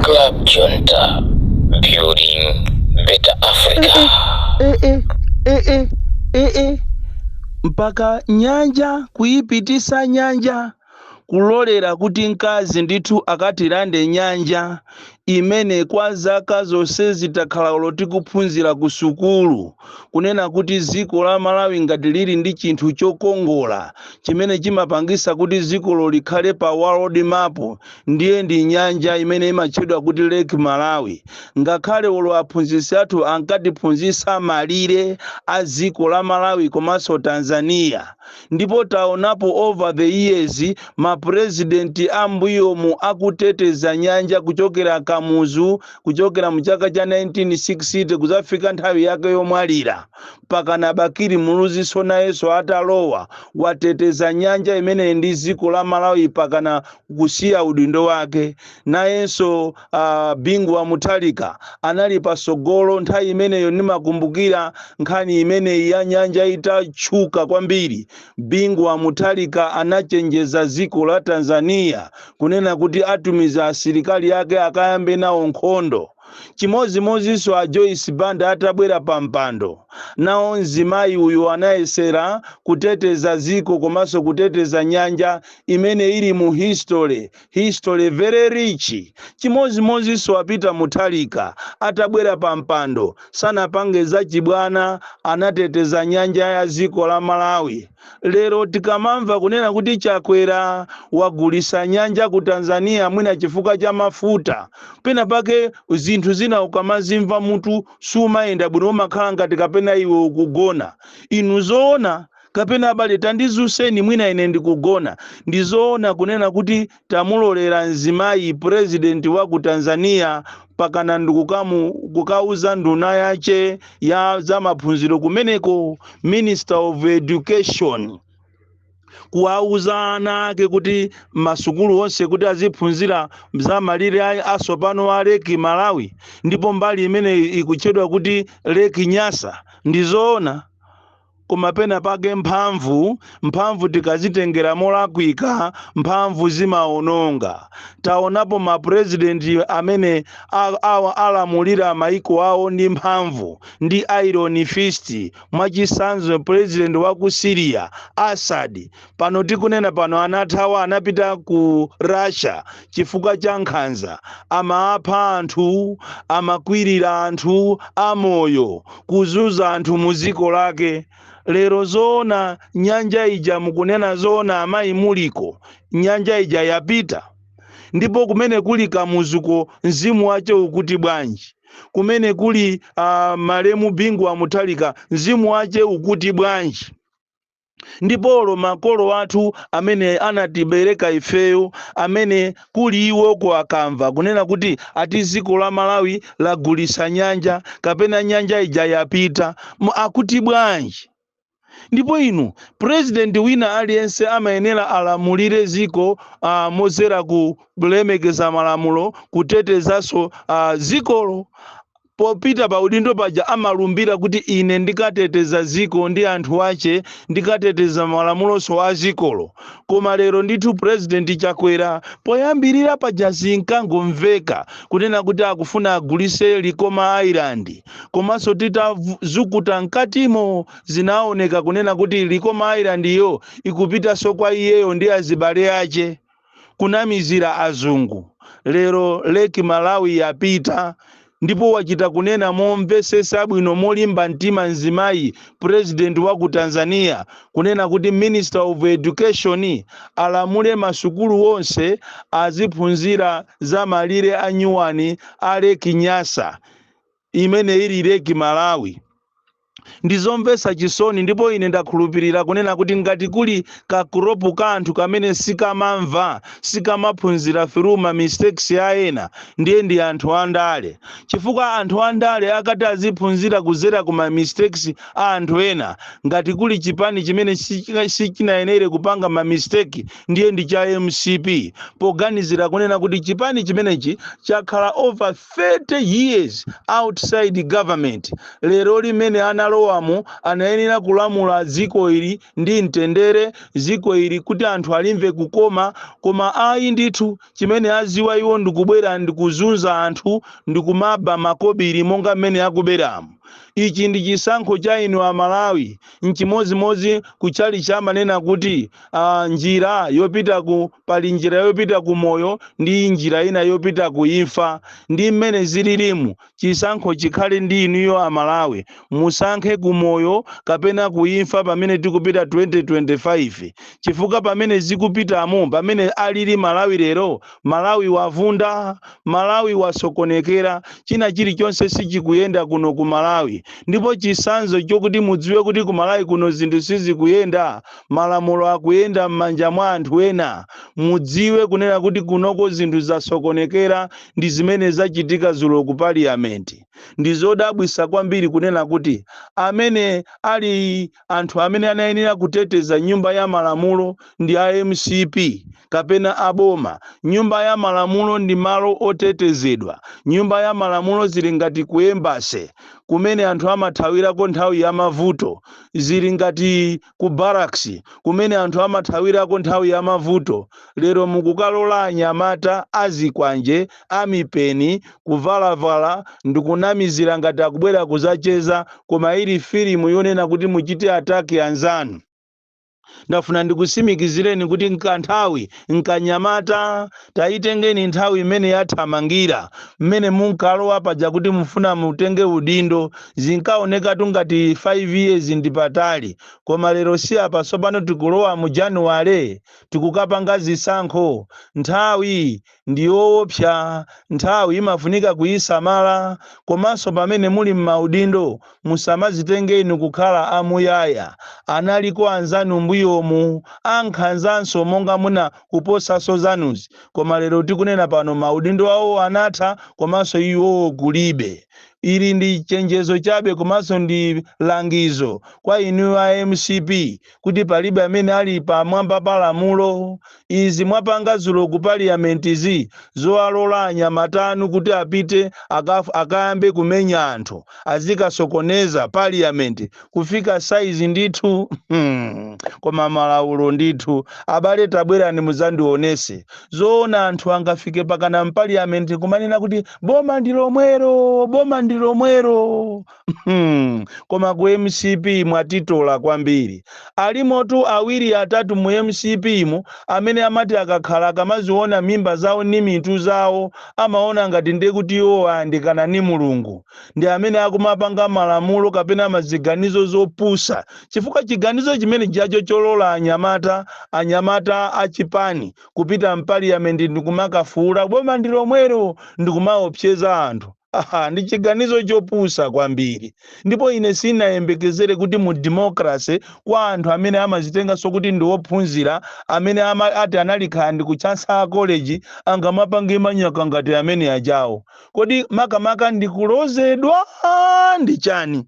Club Junta, building better Africa. mpaka nyanja kuyipitisa nyanja kulolera kuti mkazi ndithu akatirande nyanja imene kwa zaka zonse titakhala tili kuphunzira ku sukulu kunena kuti dziko la Malawi ngati lili ndi chinthu chokongola chimene chimapangisa kuti dzikolo likhale pa world map ndiye ndi nyanja imene imatchedwa kuti Lake Malawi ngakhale olo aphunzitsi athu ankatiphunzitsa malire a dziko la Malawi komanso Tanzania ndipo taonapo over the years ma president ambuyomu akuteteza nyanja kuchokera Kamuzu kuchokera mu chaka cha 1960 kuzafika nthawi yake yomwalira mpakana Bakili Muluzinso nayenso atalowa wateteza nyanja imeneyi ndi dziko la malawi mpakana kusiya udindo wake nayenso uh, bingu wa Mutharika anali pasogolo nthawi imeneyo ndimakumbukira nkhani imeneyi ya nyanja itatchuka kwambiri bingu wa Mutharika anachenjeza dziko la tanzania kunena kuti atumiza asilikali yake akayambe nawo nkhondo. Chimodzimodzinso a Joyce Banda atabwera pampando, nawo mzimayi uyu anayesera kuteteza dziko komanso kuteteza nyanja imene ili mu history, history very rich. Chimodzimodzinso a Peter Mutharika atabwera pampando, sanapange zachibwana, anateteza nyanja ya dziko la Malawi. Lero tikamamva kunena kuti Chakwera wagulisa nyanja ku Tanzania mwina chifukwa cha mafuta, pena pake zinthu zina ukamazimva mutu sumayenda bwino umakhala ngati kapena iwe ukugona. Inu zoona kapena abale tandizuseni mwina ine ndikugona. Ndizoona kunena kuti tamulolera mzimayi president wa ku tanzania mpakana ndikukamu kukauza nduna yace ya zamaphunziro kumeneko minister of education kuwauza ana ake kuti masukulu onse kuti aziphunzira za malire a- asopano a leki malawi ndipo mbali imene ikutchedwa kuti leki nyasa ndizoona koma pena pake mphamvu mphamvu tikazitengera molakwika mphamvu zimaononga taonapo mapurezidenti amene a- awa alamulira maiko awo ndi mphamvu ndi iron fist mwachisanzo purezidenti wa ku syria assad pano tikunena pano anathawa anapita ku russia chifukwa cha nkhanza amapha anthu amakwirira anthu amoyo kuzunza anthu mu dziko lake lero zoona nyanja ija mukunena zoona amayi muliko nyanja ija yapita ndipo kumene kuli kamuzuko mzimu wache ukuti bwanji kumene kuli uh, malemu bingu wa mutharika mzimu wache ukuti bwanji ndipo olo makolo athu amene anatibereka ifeyo amene kuli iwoko akamva kunena kuti ati ziko la malawi lagulisa nyanja kapena nyanja ija yapita akuti bwanji ndipo inu president wina aliyense amayenera alamulire ziko uh, mozera ku kulemekeza malamulo kutetezaso uh, zikolo Popita pa udindo paja amalumbira kuti ine ndikateteza dziko ndi anthu ache ndikateteza malamuloso a dzikolo. Koma lero ndithu president Chakwera poyambirira paja zinkangomveka kunena kuti akufuna agulise Likoma Island komanso titazukuta mkatimo zinaoneka kunena kuti Likoma Island yo ikupitaso kwa iyeyo ndi azibale ache. kunamizira azungu lero lake malawi yapita ndipo wachita kunena momvesesa bwino molimba mtima mzimayi president wa ku tanzania kunena kuti minister of education alamule masukulu onse aziphunzira za malire a nyuwani a lake nyasa imene ili Lake Malawi. Ndizomvesa chisoni ndipo ine ndakhulupirira kunena kuti ngati kuli ka crop ka anthu kamene sikamamva, sikamaphunzira through ma mistakes a ena, ndiye ndi anthu a ndale. Chifukwa anthu a ndale akati aziphunzira kuzera ku ma mistakes a anthu ena, ngati kuli chipani chimene sichika- sichinayenere kupanga ma mistake ndiye ndi cha mcp, poganizira kunena kuti chipani chimenechi chakhala over 30 years outside government lero lino mmene analowamo anayenera kulamula dziko ili ndi mtendere dziko ili kuti anthu alimve kukoma koma ayi ndithu chimene aziwa iwo ndikubwera ndikuzunza anthu ndikumaba makobiri monga mmene akuberamo ichi ndi chisankho cha inu amalawi N'chimodzimodzi ku tchalitchi amanena kuti ah, njira yopita ku pali njira yopita ku moyo ndi njira ina yopita ku imfa. Ndi mmene zililimu. Chisankho chikhale ndi inuyo a Malawi. Musankhe ku moyo kapena ku imfa pamene tikupita 2025. Chifukwa pamene zikupitamo, pamene alili Malawi lero, Malawi wavunda, Malawi wasokonekera, china chilichonse sichikuyenda kuno ku Malawi ndipo chisanzo chokuti mudziwe kuti ku Malawi kuno zinthu sizikuyenda, malamulo akuyenda mmanja mwa anthu ena, mudziwe kunena kuti kunoko zinthu zasokonekera ndi zimene zachitika zulo ku Parliament. Ndizodabwisa kwambiri kunena kuti amene ali anthu amene anayenera kuteteza nyumba ya malamulo ndi a mcp kapena a boma? Nyumba ya malamulo ndi malo otetezedwa. Nyumba ya malamulo zili ngati ku embassy kumene anthu amathawirako nthawi ya mavuto. Zili ngati ku barracks kumene anthu amathawirako nthawi ya mavuto. Lero mukukalola anyamata azikwanje amipeni, kuvalavala, ndikunamizira ngati akubwera kuzacheza koma ili filimu yonena kuti muchite attack anzanu. Ndafuna ndikutsimikizireni kuti nkanthawi nkanyamata, tayitengeni nthawi imene yathamangira, mmene munkalowa paja kuti mufuna mutenge udindo zinkaonekatu ngati 5 years ndi patali koma lero si apa tsopano tikulowa mu January tikukapanga zisankho, nthawi ndi yoopsa, nthawi imafunika kuisamala, komanso pamene muli m'maudindo musamadzitenge inu kukhala a muyaya, analiko anzanu mbuyomu ankhanzanso monga muna kuposanso zanuzi koma lero tikunena pano maudindo awo anatha komanso iwowo kulibe. Ili ndi chenjezo chabe komanso ndi langizo kwa inu a mcp kuti palibe amene ali pamwamba pa lamulo. Izi mwapanga dzulo ku parliament'zi zowalola anyamata anu kuti apite akaf- akayambe kumenya anthu azikasokoneza parliament kufika size ndithu Hmm. koma malaulo ndithu abale tabwerani mudzandionese zoona anthu angafike pakana mpaliyamenti kumanena kuti boma ndi lomwero boma ndi lomwero Hmm, koma ku mcp mwatitola kwambiri alimotu awiri atatu mu mcp mu amene amati akakhala akamaziona mimba zawo ni mitu zawo amaona ngati nde kuti iwo ayandikana ni mulungu ndi amene akumapanga malamulo kapena maziganizo zopusa chifukwa chiganizo chimenejacho cholola anyamata anyamata achipani kupita mpaliyamenti ndikumakafuula boma ndi lomwero ndikumaopseza anthu Ha-ha, ndi chiganizo chopusa kwambiri. Ndipo ine sinayembekezere kuti mu democracy, kwa anthu amene amazitenganso kuti ndi ophunzira, amene ama, ati anali kaya ndi ku Chancellor College, angamapange manyaka ngati ameneajawo. Kodi makamaka ndi kulozedwa? Ndi chani?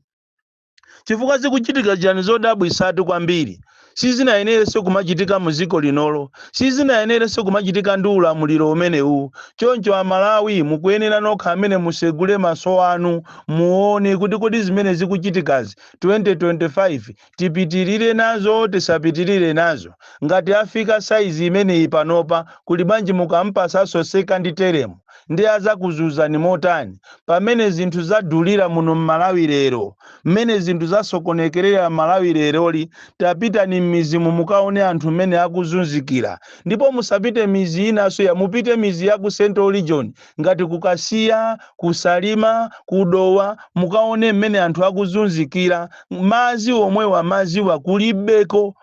Chifukwa zikuchitika chani zodabwisatu kwambiri sizinayenerenso kumachitika mu dziko linolo, sizinayenerenso kumachitika ndi ulamuliro umenewuwu. Choncho a Malawi mukuyenera nokha amene musegule maso anu muone kuti kodi zimene zikuchitikazi 2025 tipitirire nazo tisapitirire nazo. Ngati afika size imeneyi panopa kuli bwanji mukampasanso second term? nde azakuzuzani motani pamene zinthu zadulira muno mmalawi lero mmene zinthu zasokonekerera mmalawi leroli tapitani mmizimu mukaone anthu mmene akuzunzikira ndipo musapite mizi inaso ya mupite mizi ya ku central region ngati kukasiya kusalima kudowa mukaone mmene anthu akuzunzikira mazi omwewa maziwa kulibeko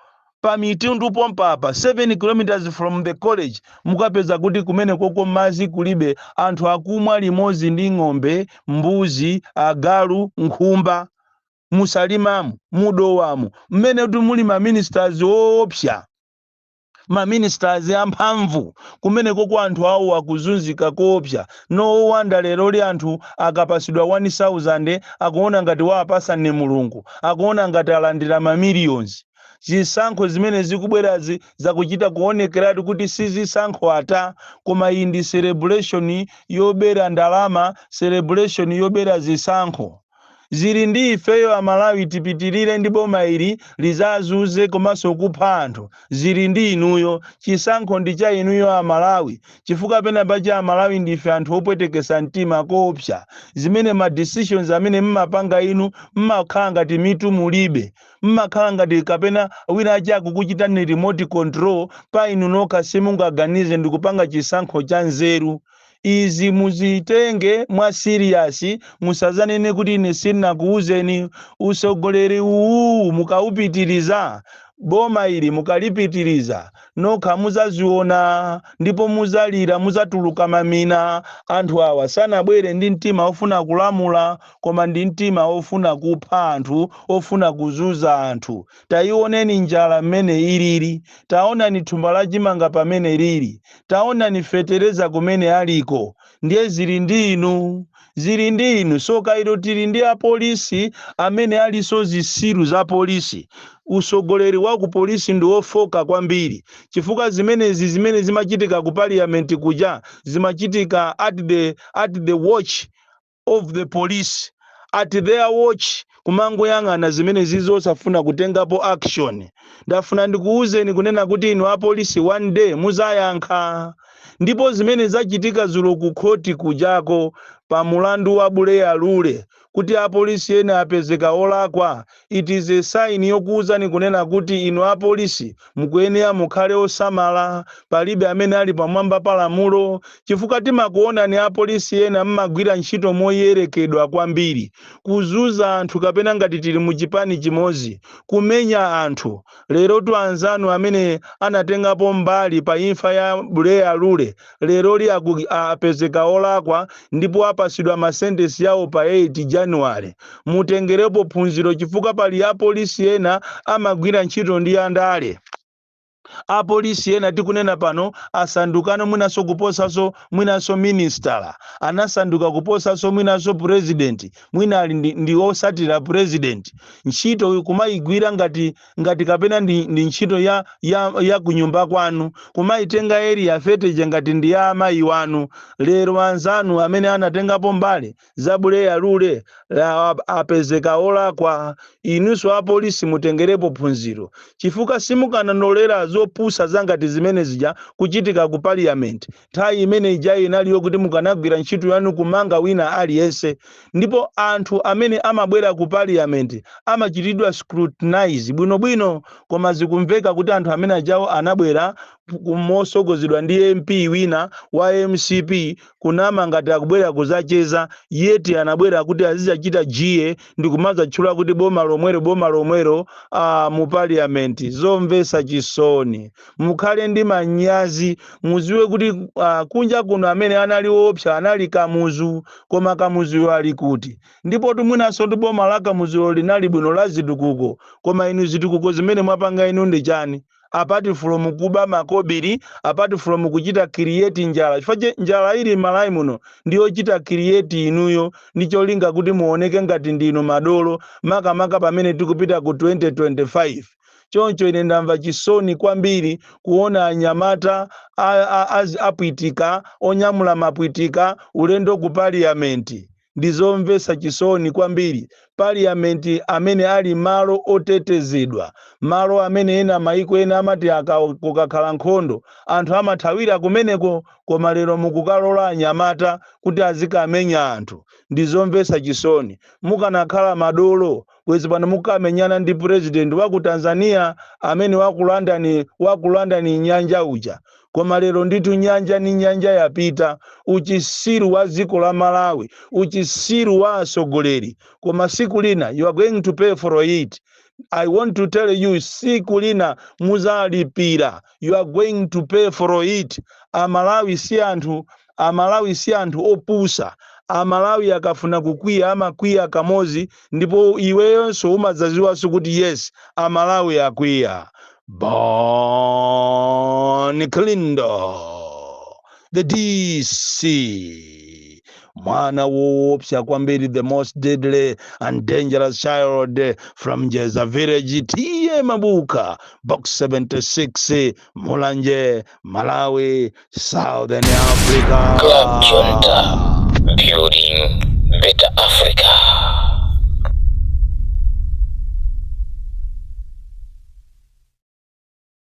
pa mitundu pompa apa 7 km from the college mukapeza kuti kumenekoko mazi kulibe anthu akumwa limodzi ndi ng'ombe mbuzi agalu nkhumba musalimamu mudowamu mmene kuti muli maministers oopsa maministers amphamvu kumenekoko anthu awo akuzunzika koopsa no wonder leroli anthu akapasidwa 1000 akuona ngati waapasa ndi mulungu akuona ngati alandira mamillions Zisankho zimene zikubwerazi zakuchita kuonekeratu kuti si zisankho ata, koma iyi ndi celebration yobera ndalama, celebration yobera zisankho. Zili ndi ifeyo a Malawi tipitirire ndi boma ili lizazunze komanso kupha anthu, zili ndi inuyo. Chisankho ndi cha inuyo a Malawi, chifukwa pena pache a Malawi ndife anthu opwetekesa mtima koopsa, zimene ma decisions amene mmapanga inu mmakhala ngati mitu mulibe. mmakhala ngati kapena wina wache akukuchitani remote control pa inu nokha simungaganize ndikupanga chisankho cha nzeru izi muzitenge mwa serious musazanene kuti ine sinakuuzeni usogoleri uwuwu mukaupitiriza boma ili mukalipitiriza nokha muzaziona ndipo muzalira muzatuluka mamina anthu awa sanabwere ndi mtima ofuna kulamula koma ndi mtima wofuna kupha anthu, wofuna kuzunza anthu. Taioneni njala mmene ilili! Taonani thumba la chimanga pamene lili! Taonani fetereza kumene aliko! Ndiye zili ndi inu? Zili ndi inu! Tsoka ilo tili ndi apolisi amene alinso zitsiru za polisi. Utsogoleri wa kupolisi ndi wofooka kwambiri chifukwa zimenezi zimene zimachitika ku Parliament kuja zimachitika at the at the watch. of the police at their watch kumangoyang'ana zimenezizo osafuna kutengapo action ndafuna ndikuwuzeni kunena kuti inu apolisi one day muzayankha ndipo zimene zachitika zulo ku khoti kujako pa mulandu wa buleya lule kuti apolisi ena apezeka olakwa It is a sign yokuuzani kunena kuti inu apolisi mukuyenera mukhale osamala, palibe amene ali pamwamba pa lamulo, chifukwa timakuonani apolisi ena mmagwira ntchito moyerekedwa kwambiri, kuzuza anthu kapena ngati tili mu chipani chimodzi, kumenya anthu. Lerotu anzanu amene anatengapo mbali pa imfa ya Buleya Lule leroli apezeka olakwa ndipo apasidwa masentensi yawo pa 8 january mutengerepo phunziro chifukwa pali apolisi ena amagwira ntchito ndi andale apolisi ena tikunena pano asandukano mwinanso kuposanso mwinanso ministala anasanduka kuposanso mwinanso purezidenti mwina ali ndi, ndi osatira purezidenti ntchito kumayigwira ngati ngati kapena ndi, ndi ntchito ya, ya, ya kunyumba kwanu kumayitenga area 30 ija ngati ndi ya amayi wanu lero anzanu amene anatengapo mbali za buleya lule la- apezeka olakwa inunso apolisi mutengerepo phunziro chifukwa simukananolera zopusa zangati zimene zija kuchitika ku parliament Nthawi imene ija inali yokuti mukanagwira ntchito yanu kumanga wina aliyense. Ndipo anthu amene amabwera ku parliament amachitidwa scrutinize bwinobwino. Koma zikumveka kuti anthu amene ajawo anabwera mosogozedwa ndi MP wina wa mcp kunama ngati akubwera kuzacheza yet anabwera kuti azizachita jeer ndikumazatchula kuti boma lomwelo boma lomwelo aah mu parliament. Zomvesa chisoni. mukhale ndi manyazi muziwe kuti uh, kunja kuno amene anali woopsa anali kamuzu koma kamuzuyo ali kuti ndipotu mwinanso ndi boma la kamuzulo linali bwino la zitukuko koma inu zitukuko zimene mwapanga inu ndi chani apart from kuba makobiri apart from kuchita create njala chifukwa che njala ili mmalawi muno ndiyochita create inuyo ndi cholinga kuti muoneke ngati ndinu madolo makamaka pamene tikupita ku 2025 Choncho ine ndamva chisoni kwambiri kuona anyamata a, a, a, aphwitika onyamula maphwitika ulendo ku paliyamenti. Ndi zomvetsa chisoni kwambiri. Paliyamenti amene ali malo otetezedwa, malo amene ena maiko ena amati aka, kukakhala nkhondo anthu amathawira kumeneko, koma lero mukukalola anyamata kuti azikamenya anthu. Ndi zomvetsa chisoni. Mukanakhala madolo bwezi pano mukamenyana ndi president wa ku tanzania amene wakulandani wakulandani nyanja uja koma lero ndithu nyanja ni nyanja yapita uchisiru wa dziko la malawi uchisiru wa atsogoleri koma siku lina you are going to pay for it i want to tell you siku lina muzalipira you are going to pay for it amalawi si anthu Amalawi si anthu opusa. Amalawi akafuna kukwiya amakwiya kamozi ndipo iweyonso umadzaziwanso kuti yes amalawi akwiya. Bon Kalindo the DC mwana woopsa kwambiri the most deadly and dangerous child from Jeza village T/A Mabuka box 76 Mulanje, Malawi, Southern Africa. Club Jonta, building better Africa.